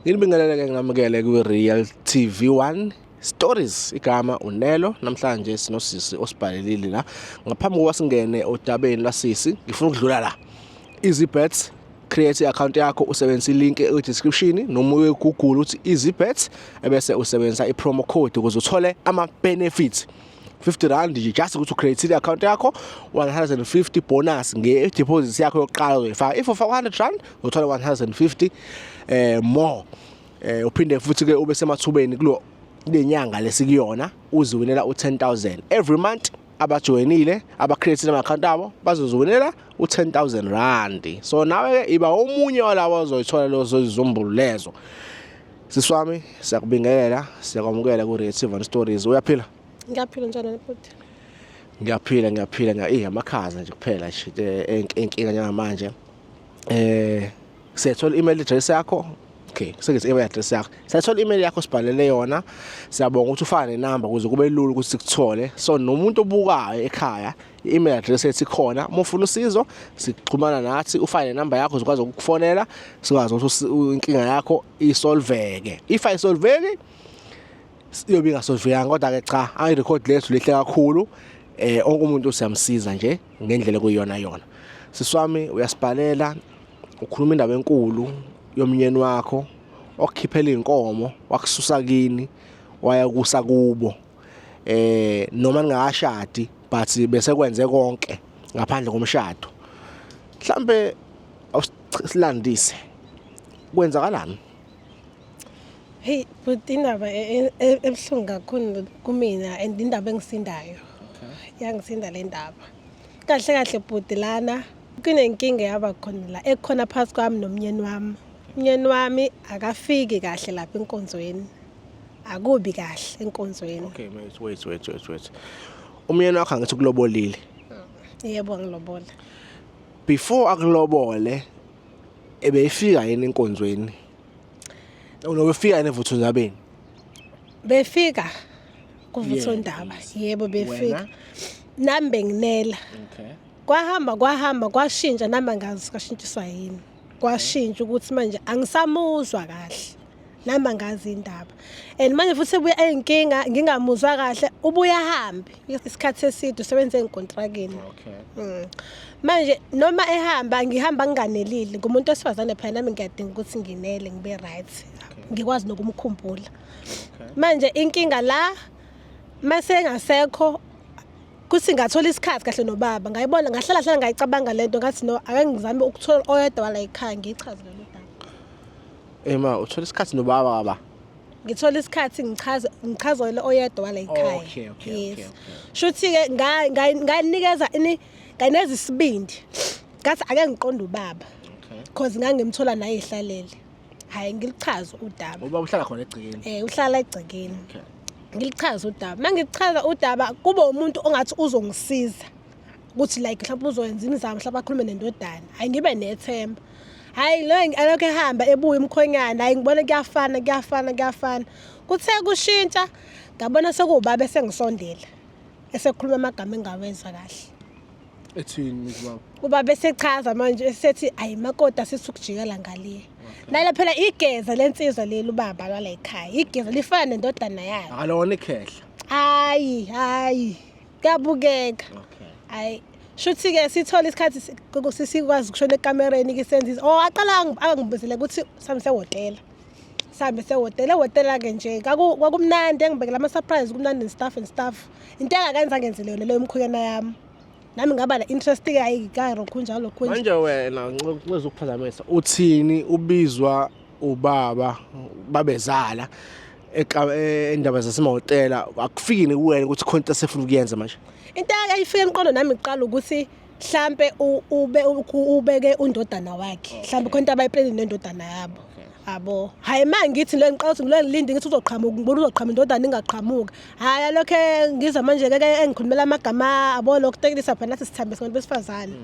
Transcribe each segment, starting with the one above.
Ngilibingelele-ke ngamukele kwi-Real TV 1 Stories igama uNelo namhlanje sinosisi osibhalelile la ngaphambi kokuba singene odabeni lasisi ngifuna ukudlula la EasyBets create i-account yakho usebenzisa ilink e-description noma uye Google uthi EasyBets ebese usebenzisa i-promo code ukuze uthole ama-benefits 50 rand nje just ukuthi ucreate i account yakho 150 bonus nge deposit yakho yokuqala uzoyifaka if ufaka 100 rand uthola 150 eh more eh uphinde futhi ke ube semathubeni kulo lenyanga lesikuyona uziwinela u10000 every month abajoyinile abacreate ama account abo bazoziwinela u10000 rand so nawe ke iba omunye walawa ozoyithola lozo izizumbulu lezo Sisi wami siyakubingelela siyakwamukela ku Red Seven Stories. Uyaphila? Ngiyaphila njalo futhi. Ngiyaphila ngiyaphila ngiya eh amakhaza nje kuphela nje eh, inkinga njengamanje. Eh siyathola email address yakho okay sengise email address yakho siyathola email yakho sibhalele yona siyabonga ukuthi ufane nenamba ukuze kube lula ukuthi sikuthole so nomuntu obukayo ekhaya i-email address ethi khona uma ufuna usizo sixhumana nathi ufake nenamba yakho zikwazi ukukufonela sikwazi ukuthi inkinga yakho isolveke if ayisolveki siyobe ingasolvekanga kodwa-ke cha i-record lethu lihle kakhulu eh onke umuntu siyamsiza nje ngendlela kuyona yona siswami uyasibhalela ukhuluma indaba enkulu yomnyeni wakho okukhiphela inkomo wakususa kini waya kusa kubo eh noma ningakashadi but bese kwenze konke ngaphandle komshado mhlambe awusilandise kwenzakalani hey but indaba e, e, e, ebuhlungu kakhulu kumina and indaba engisindayo yangisinda le ndaba kahle kahle bhuti lana kunenkinga yaba khona la ekhona phakathi kwami nomnyeni wami umnyeni wami akafiki kahle lapha enkonzweni akubi kahle enkonzweni okay wait wait wait wait wait umyeni wakho angithi kulobolile yebo angilobola before akulobole ebeyifika yini enkonzweni unobefika yini evuthu zabeni befika kuvutho ndaba yebo befika nami benginela okay kwahamba kwahamba kwashintsha nami angazi kashintshiswa yini kwashintsha ukuthi manje angisamuzwa kahle nami angazi indaba and manje futhi ebuya eyinkinga ngingamuzwa kahle ubuya hambe isikhathi eside usebenze enkontrakini okay mm. manje noma ehamba ngihamba nginganelile ngumuntu osifazane phela nami ngiyadinga ukuthi nginele ngibe right ngikwazi nokumkhumbula manje inkinga la mase engasekho kuthi ngathola isikhathi kahle nobaba ngayibona ngahlala hlala ngayicabanga lento ngathi no ake ngizame ukuthola oyedwa wala ekhaya ngichaze lolu daba ema uthola isikhathi nobaba baba ngithola isikhathi ngichaze ngichazele oyedwa wala ekhaya okay okay yes shuthi ke ngayinikeza ini nganeza isibindi ngathi ake ngiqonde ubaba because ngangimthola naye ehlalele hayi ngilichaza udaba uba uhlala khona egcikeni eh uhlala egcikeni okay. ngilichaza udaba uma ngilichaza udaba kube umuntu ongathi uzongisiza ukuthi like mhlawumbe uzoyenza imizamo mhlawumbe akhulume nendodana hayi ngibe nethemba hayi lo alokhu ehamba ebuya umkhonyana hayi ngibona kuyafana kuyafana kuyafana kuthe kushintsha ngabona sekuwubaba esengisondela esekhuluma amagama engawezwa kahle ethini mntu wakho kuba besechaza manje esethi ayi makota sisukujikela ngaliye nalo phela igeza lensizwa leli ubaba lwala ekhaya igeza lifana nendodana yakhe akalona ikhehla hayi hayi kuyabukeka okay hayi shuthi ke sithola isikhathi si- ku- ku- si- sikwazi ukushona ekamereni ke senza izi- oh aqala angi- angibuzele ukuthi samsehhotela sihambe sehhotela ehhotela-ke nje kwakumnandi engibekela ama-surprise kumnandi nestaff and staff into engakenza ngenzele yona leyo mkhuyana yami nami ngaba la interest ke ayi karo khunjalo lokhu manje wena nxeza ukuphazamisa uthini ubizwa ubaba babezala endaba zasemahhotela akufiki nikuwena ukuthi khona into esefuna ukuyenza manje into ayifike emqondo nami kuqala ukuthi mhlampe ube ubeke undodana wakhe mhlampe khona into abayiplanile nendodana yabo abo hayi ma ngithi le ngiqala ukuthi ngilo ngilinde ngithi uzoqhamuka ngibona uzoqhamuka indodana ingaqhamuka hayi alokhe ngiza manje ke engikhulumela amagama abo lokhu tekelisa phela nathi sithambe sibantu besifazane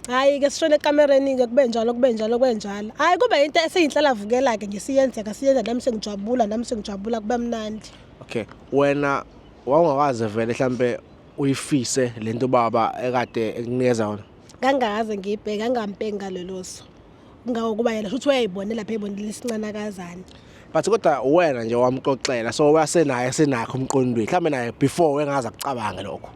hayi ke sishone ekamereni ke kube njalo kube njalo kwenjalo hayi kube into eseyinhlalavukela ke nje siyenzeka siyenza nami sengijabula nami sengijabula kube mnandi okay wena wawungakaze vele mhlambe uyifise lento baba ekade ekunikeza yona ngangaze ngiyibheke angampeki ngaleloso ngako kuba yena futhi uyayibonela phela ibonile isincanakazana but kodwa wena nje wamxoxela so wasenaye senakho umqondweni mhlawumbe naye before wengaza kucabange lokho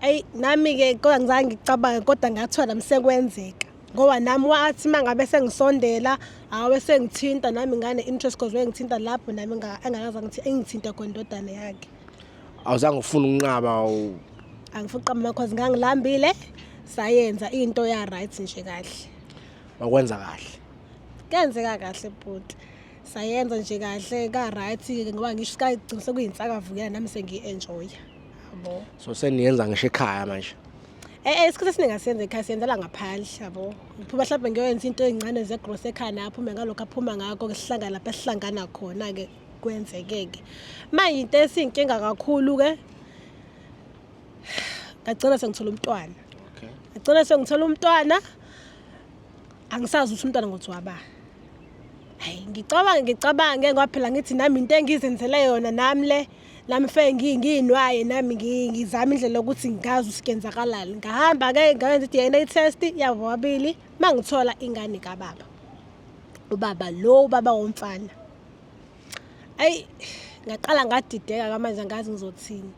ayi nami ke kodwa ngizange ngicabange kodwa ngathiwa nami sekwenzeka ngoba nami wathi mangabe sengisondela awe sengithinta nami ngane interest cause wengithinta lapho nami engakaza ngithi engithinta khona indodana yakhe awuzange ufuna ukunqaba angifuni uqamba amakhosi ngangilambile sayenza into ya right nje kahle wakwenza kahle kenzeka kahle bhuti sayenza nje kahle ka right ngoba ngisho sikagcina sekuyinsakavukela nami sengiyi-enjoya yabo so seniyenza ngisho ekhaya manje Eh, eh isikhathi esiningi asiyenze ekhaya siyenzela ngaphandle yabo ngiphuba mhlawumbe ngiyoyenza into ey'ncane zegross ekhaya naye aphume ngalokho aphuma ngakho ke sihlangane lapho esihlangana khona-ke kwenzekeke manje into esinkinga kakhulu ke ngagcina sengithola umntwana okay ngagcina sengithola umntwana angisazi ukuthi umntwana ngothi waba hayi ngicabange ngicabange ngoba phela ngithi nami into engizenzele yona nami le nami fe nginginwaye nami ngizama indlela yokuthi ngazi usikenzakalani ngahamba ke ngayenza i-dna test yabo wabili uma ngithola ingane kababa ubaba lo ubaba womfana ayi ngaqala ngadideka kamanje angazi ngizothini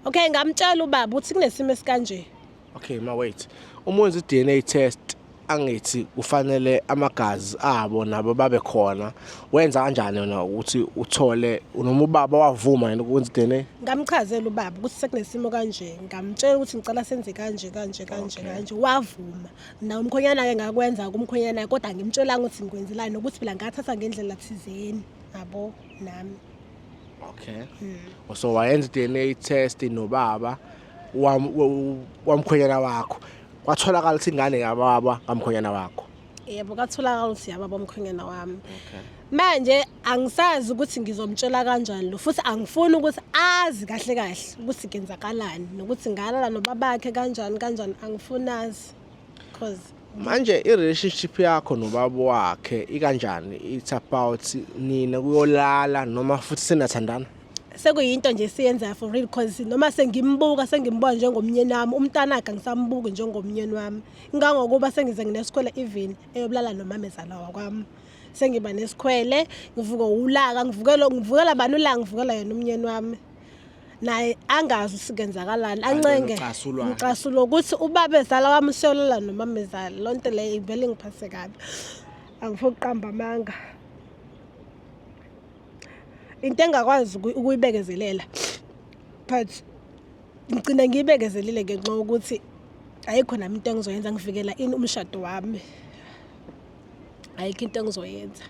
okay ngamtshela ubaba uthi kunesimo esikanje okay ma wait uma wenza i-dna test angithi kufanele amagazi abo nabo babe khona wenza kanjani yona ukuthi uthole noma ubaba wavuma yena ukwenza i-dna ngamchazela ubaba ukuthi sekunesimo kanje ngamtshela ukuthi ngicela senze kanje kanje kanje kanje wavuma na umkhonyana ke ngakwenza kumkhonyana kodwa ngimtshelanga ukuthi ngikwenzelani nokuthi phela ngathatha ngendlela thizeni yabo nami okay mm. so wayenza DNA test nobaba wamkhonyana wakho kwatholakala ukuthi ingane yababa kamkhonyana wakho yebo katholakala ukuthi yababa umkhonyana wami okay manje angisazi ukuthi ngizomtshela kanjani lo futhi angifuni ukuthi azi kahle kahle ukuthi kenzakalani nokuthi ngalala nobabakhe kanjani kanjani angifuni azi cause manje i-relationship yakho nobaba wakhe ikanjani it's about nina kuyolala noma futhi senathandana sekuyinto nje siyenzayo for real cause noma sengimbuka sengimbona njengomnyeni wami umntanakhe angisambuki njengomnyeni wami ngangokuba sengize nginesikhwele even eyobulala nomamezala wakwami sengiba nesikhwele ngivuke ulaka ngivukela ngivukela bani ulaka ngivukela yena umnyeni wami naye angazi usikenzakalani ancenge ngicasulo ukuthi ubaba ezala wami useyolela nomama ezala loo nto leyo ivele ngiphase kabi angifo kuqamba amanga into engakwazi ukuyibekezelela but ngigcina ngiyibekezelile ngenxa yokuthi ayikho nami into engizoyenza ngivikela ini umshado wami ayikho into engizoyenza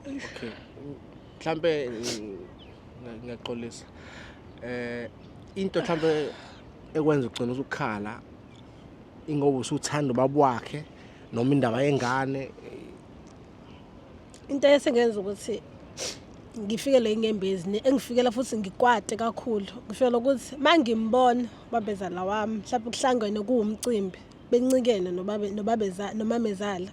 okay mhlambe ngiyaxolisa eh into mhlambe ekwenza ugcina ukukhala ingoba usuthanda ubaba wakhe noma indaba yengane into esengenza ukuthi ngifikele inyembezi engifikela futhi ngikwate kakhulu ngifikela ukuthi uma ngimbona ubabezala wami mhlawumbe kuhlangene kuwumcimbi bencikene nomamezala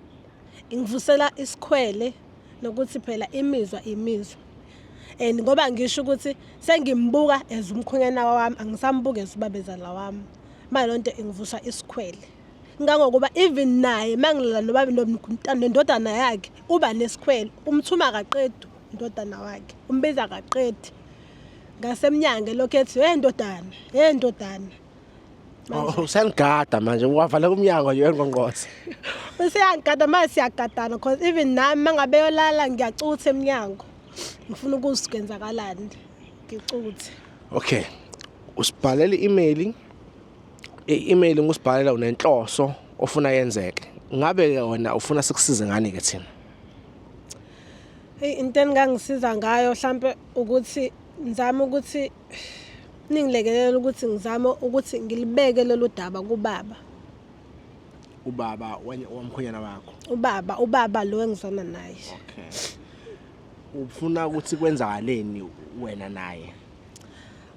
ingivusela isikhwele nokuthi phela imizwa imizwa and ngoba ngisho ukuthi sengimbuka as umkhonyana wami angisambuki as ubabezala wami manje lonto ingivusa isikhwele ngangokuba even naye mangilala nobabi nendodana yakhe uba nesikhwele umthuma kaqedi indodana wakhe umbiza kaqedi ngasemnyango lokho ethi hey ndodana hey ndodana oh, usenigada manje wavala kumnyango nje engqongqoza useyangigada manje siyagadana because even nami mangabe yolala ngiyacutha emnyango ngifuna ukuzikwenzakalani ngicuthe okay usibhalela i-email I-email ngusibhalela unenhloso ofuna yenzeke. Ngabe ke wena ufuna sikusize ngani ke thina? Hey into engangisiza ngayo mhlambe ukuthi ngizama ukuthi ningilekelela ukuthi ngizame ukuthi ngilibeke lolu daba kubaba. Ubaba wamkhonyana wakho. Ubaba, ubaba lo engizona naye. Okay. Ufuna ukuthi kwenzakaleni wena naye?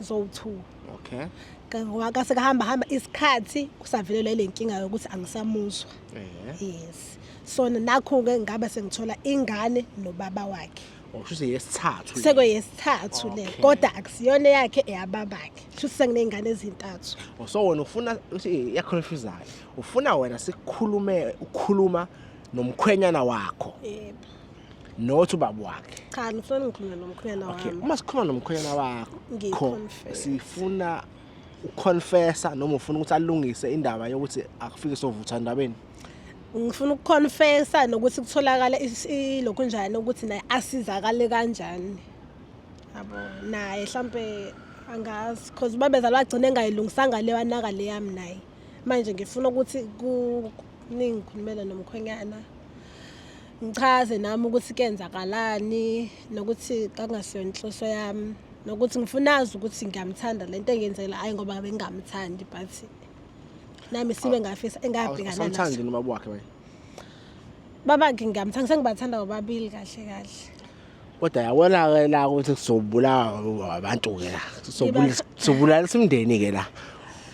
zowuthuka okay Ka- ngoba kase kahamba hamba isikhathi kusavelelwa ile nkinga yokuthi angisamuzwa eh yes so nakho-ke ngabe sengithola ingane nobaba wakhe okusho ukuthi yesithathu le. sekweyesithathu le Okay. kodwa akusiyona eyakhe eyababakhe sho ukuthi senginey'ngane ezintathu Oh, so wena ufuna uthi yaconfusayo ufuna wena sikhulume ukhuluma nomkhwenyana wakho yebo not ubaba wakhe cha ngifuna ngikhulume nomkhwenyana wami okay uma sikhuluma nomkhwenyana wakho sifuna uconfessa noma ufuna ukuthi alungise indaba yokuthi akufike sovutha ndabeni ngifuna ukuconfessa nokuthi kutholakala lokhu njani ukuthi naye asizakale kanjani yabo naye mhlambe angazi because babezalwa agcine engayilungisanga le wanaka le yami naye manje ngifuna ukuthi ningikhulumele nomkhwenyana ngichaze nami ukuthi kenzakalani nokuthi kakungasiyona inhloso yami nokuthi ngifuna azi ukuthi ngiyamthanda le nto engenzela hhayi ngoba bengingamthandi but nami sibe ngafisa engabhekana naso noma wakhe wena babakhe ngiyamthanda sengibathanda bobabili kahle kahle kodwa yabona ke la ukuthi kuzobulawa abantu ke la kuzobulala simndeni ke la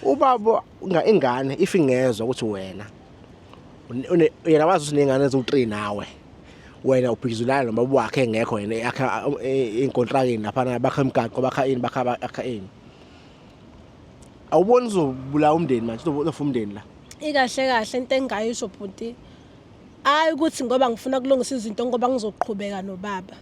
ubaba ingane if ingezwa ukuthi wena yena wazi ukuthi nengane eziwu-3 nawe wena ubhikizulana nobaba wakhe engekho yena yakha inkontrakini laphana bakha imigaqo bakha ini bakha bakha ini awuboni uzobulawa umndeni manje uzofa umndeni la ikahle kahle into engingayisho bhuti hayi ukuthi ngoba ngifuna kulungisa izinto ngoba ngizoqhubeka nobaba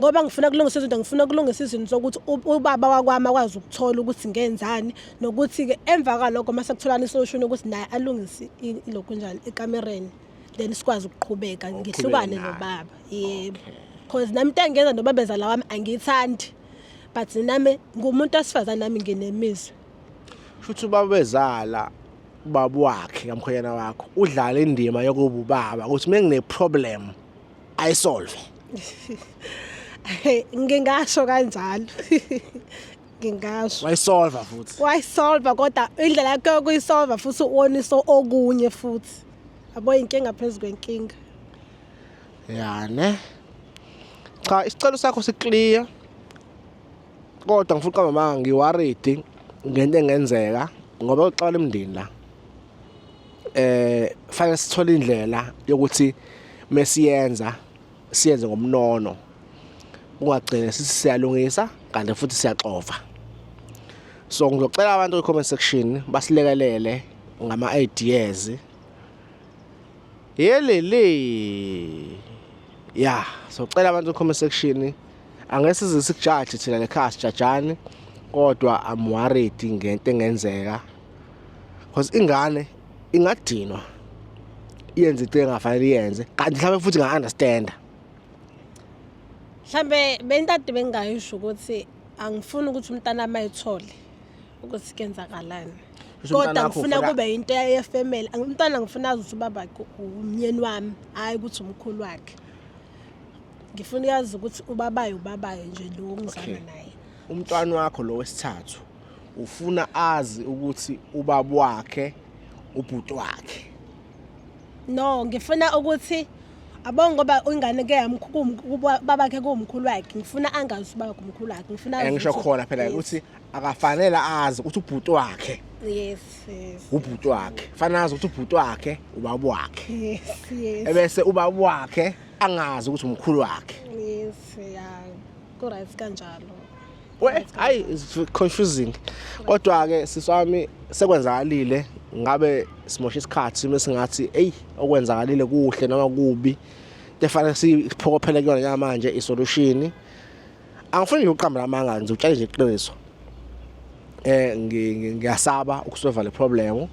ngoba ngifuna kulungisa izinto ngifuna kulungisa izinto sokuthi ubaba wakwami akwazi ukuthola ukuthi ngenzani nokuthi-ke emva kwalokho uma sekutholana isolushini ukuthi naye alungise lokhu njalo ekamereni then sikwazi ukuqhubeka ngihlukane nobaba yebo because nami into engenza nobabezala wami angiyithandi but nami ngumuntu osifazane nami nginemizwa futhi ubabezala ubaba wakhe kamkhonyana wakho udlala indima yokuba ubaba ukuthi uma ngine-problem ayisolve ngingasho kanjalo ngingasho wayisolva futhi wayisolva kodwa indlela yakhe yokuyisolva futhi uwonisa okunye futhi yabo inkinga phezu kwenkinga ya ne cha isicelo sakho siclear kodwa ngifuna uqamba amanga ngiworried ngento engenzeka ngoba uxabana emndini la eh fanele sithole indlela yokuthi mesiyenza siyenze ngomnono ungagcine sithi siyalungisa kanti futhi siyaxova so ngizocela abantu kwi-comment section basilekelele ngama-ideas yelele ya socela abantu kwi-comment section angeke size sikujaje thina le khaya sijajani kodwa I'm worried ngento engenzeka because ingane ingadinwa yenze into engafanele yenze kanti mhlawumbe futhi nga-understanda mhlawumbe bentade bengingayisho ukuthi angifuni ukuthi umntana wami ayithole ukuthi kenzakalani kodwa ngifuna kube yinto yefamily umntwana ngifuna azi ukuthi ubaba umnyeni wami hhayi ukuthi umkhulu wakhe ngifuna uyazi ukuthi ubabayo ubabayo nje lo ngizana naye umntwana wakho lo wesithathu ufuna azi ukuthi ubaba wakhe ubhuti wakhe no ngifuna ukuthi abongo ngoba ingane ke babakhe kuwumkhulu wakhe ngifuna angazi uba kumkhulu wakhe ngifuna eh, ngisho khona phela ukuthi akafanele azi ukuthi ubhuti wakhe yes yes ubhuti wakhe fanele azi ukuthi ubhuti wakhe ubaba wakhe yes yes ebese ubaba wakhe angazi ukuthi umkhulu wakhe yes yeah Ku-right kanjalo. We, hayi it's confusing. Kodwa ke siswami sekwenzakalile ngabe simosha isikhathi mesingathi hey okwenzakalile kuhle noma kubi. Tefanele siphokophele kuyona yamanje isolution. Angifuni ukuqamba amanga nje utshale nje iqiniso. eh ngiyasaba ukusova le problem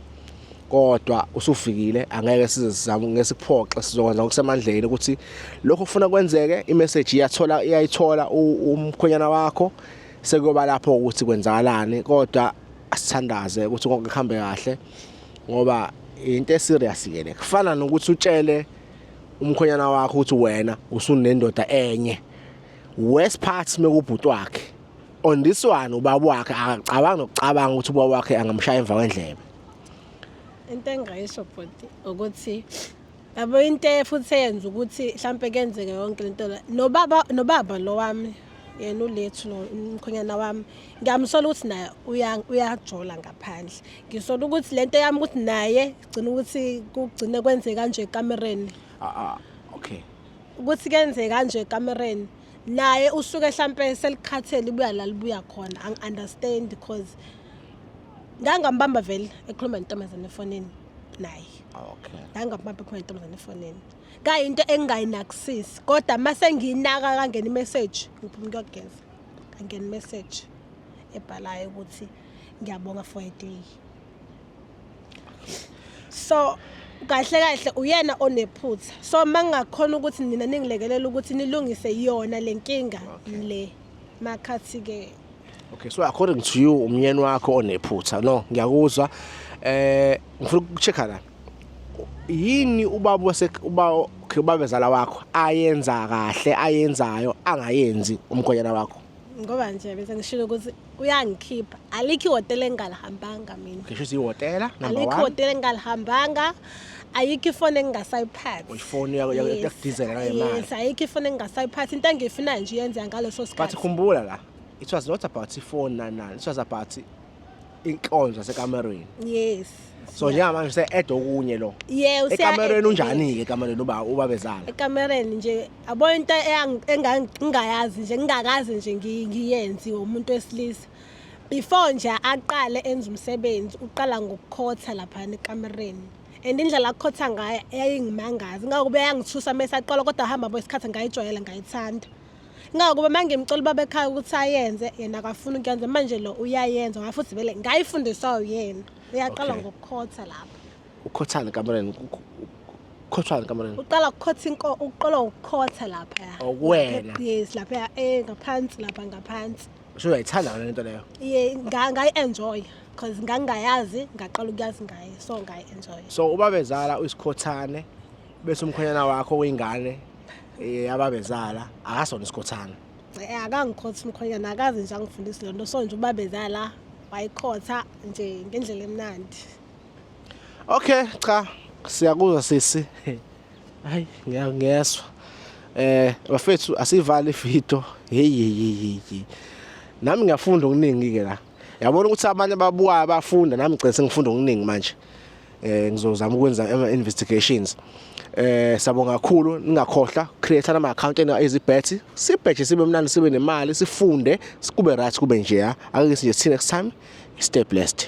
kodwa usufikile angeke size sizame ngesikuphoxe sizokwenza ngokusemandleni ukuthi lokho kufuna kwenzeke imessage iyathola iyayithola umkhonyana wakho sekuyoba lapho ukuthi kwenzakalani kodwa asithandaze ukuthi konke kuhambe kahle ngoba into eserious ke le kufana nokuthi utshele umkhonyana wakho ukuthi wena usunendoda enye worst part mekubhuti wakhe on this one ubaba wakhe akacabanga nokucabanga ukuthi ubaba wakhe angamshaya emva kwendlebe into engayisho bhuti ukuthi yabo into futhi eyenza ukuthi mhlampe kenzeke yonke lento la nobaba nobaba lo wami yena ulethu lo umkhonyana wami ngiyamsola ukuthi naye uyajola ngaphandle ngisola ukuthi lento yami ukuthi naye gcina ukuthi kugcine kwenzeka kanje ekamereni ah, ah, okay ukuthi kenzeka kanje ekamereni naye usuke hlampe selikhathele ibuya la libuya khona angi-understand because ngangambamba vele ekhuluma nentombazane efonini naye okay ngangambamba ekhuluma nentombazane efonini kayinto engingayinakisisi kodwa uma sengiyinaka kangena imessage ngiphuma kuyogeza kangena imessage ebhalayo ukuthi ngiyabonga for a day so kahle kahle uyena onephutha so mangingakhona ukuthi nina ningilekelela ukuthi nilungise yona lenkinga le makhathi ke okay so according to you umyeni wakho onephutha no ngiyakuzwa eh ngifuna ukuchecka la yini ubaba wase uba okay ubaba ezala wakho ayenza kahle ayenzayo angayenzi umgonyana wakho ngoba nje bese ngishilo ukuthi uyangikhipha alikho ihhotela engingalihambanga mina ngisho ukuthi ihhotela number alikho one ihhotela engingalihambanga ayikho ifoni engingasayiphathi ifoni yakho Yes. yakudizela nayo imali yes ayikho ifoni engingasayiphathi into engiyifunayo nje iyenzeka ngaleso but sikhathi khumbula la it was not about ifoni nanani it was about inkonzo yasekamerweni yes so njengamanje se-add okunye lo yeah ekamerweni unjani-ke ekamerweni uba ubabezala ekamereni nje yabo into engingayazi nje ngingakazi nje ngiyenzi umuntu wesilisa before nje aqale enza umsebenzi uqala ngokukhotha laphana ekamereni and indlela akukhotha ngayo eyayingimangazi ngakube yangithusa mese aqala kodwa hamba bo isikhathi ngayijwayela ngayithanda ngakube mangimcela ubaba ekhaya ukuthi ayenze yena akafuni ukuyenza manje lo uyayenza ngafuthi vele ngayifundiswa uyena uyaqala ngokukhotha lapho Ukhothani kamareni? Ukhothani kamareni? Uqala ukukhotha inko uqala ukukhotha lapha. Okuwena. Oh, yes, lapha eh ngaphansi lapha ngaphansi. Usho uyayithanda le nto leyo? Yeah, ngayi enjoy because ngangayazi ngaqala ukuyazi ngaye so ngayi enjoy. So ubabezala uyisikhothane bese umkhonyana wakho wengane eh ababezala akasona isikhothane. Eh akangikhothi umkhonyana akazi nje angifundisi lento so nje ubabezala wayikhotha nje ngendlela emnandi. Okay cha siyakuzwa sisi hayi ngiyezwa eh bafethu asivale ifito hey hey hey nami ngiyafunda okuningi ke la yabona ukuthi abanye babuka abafunda nami ngicela sengifunda okuningi manje eh ngizozama ukwenza ama investigations eh sabonga kakhulu ningakhohla create ama account ena ezibhethi sibhethi sibe mnandi sibe nemali sifunde sikube right kube nje akake sinje next time stay blessed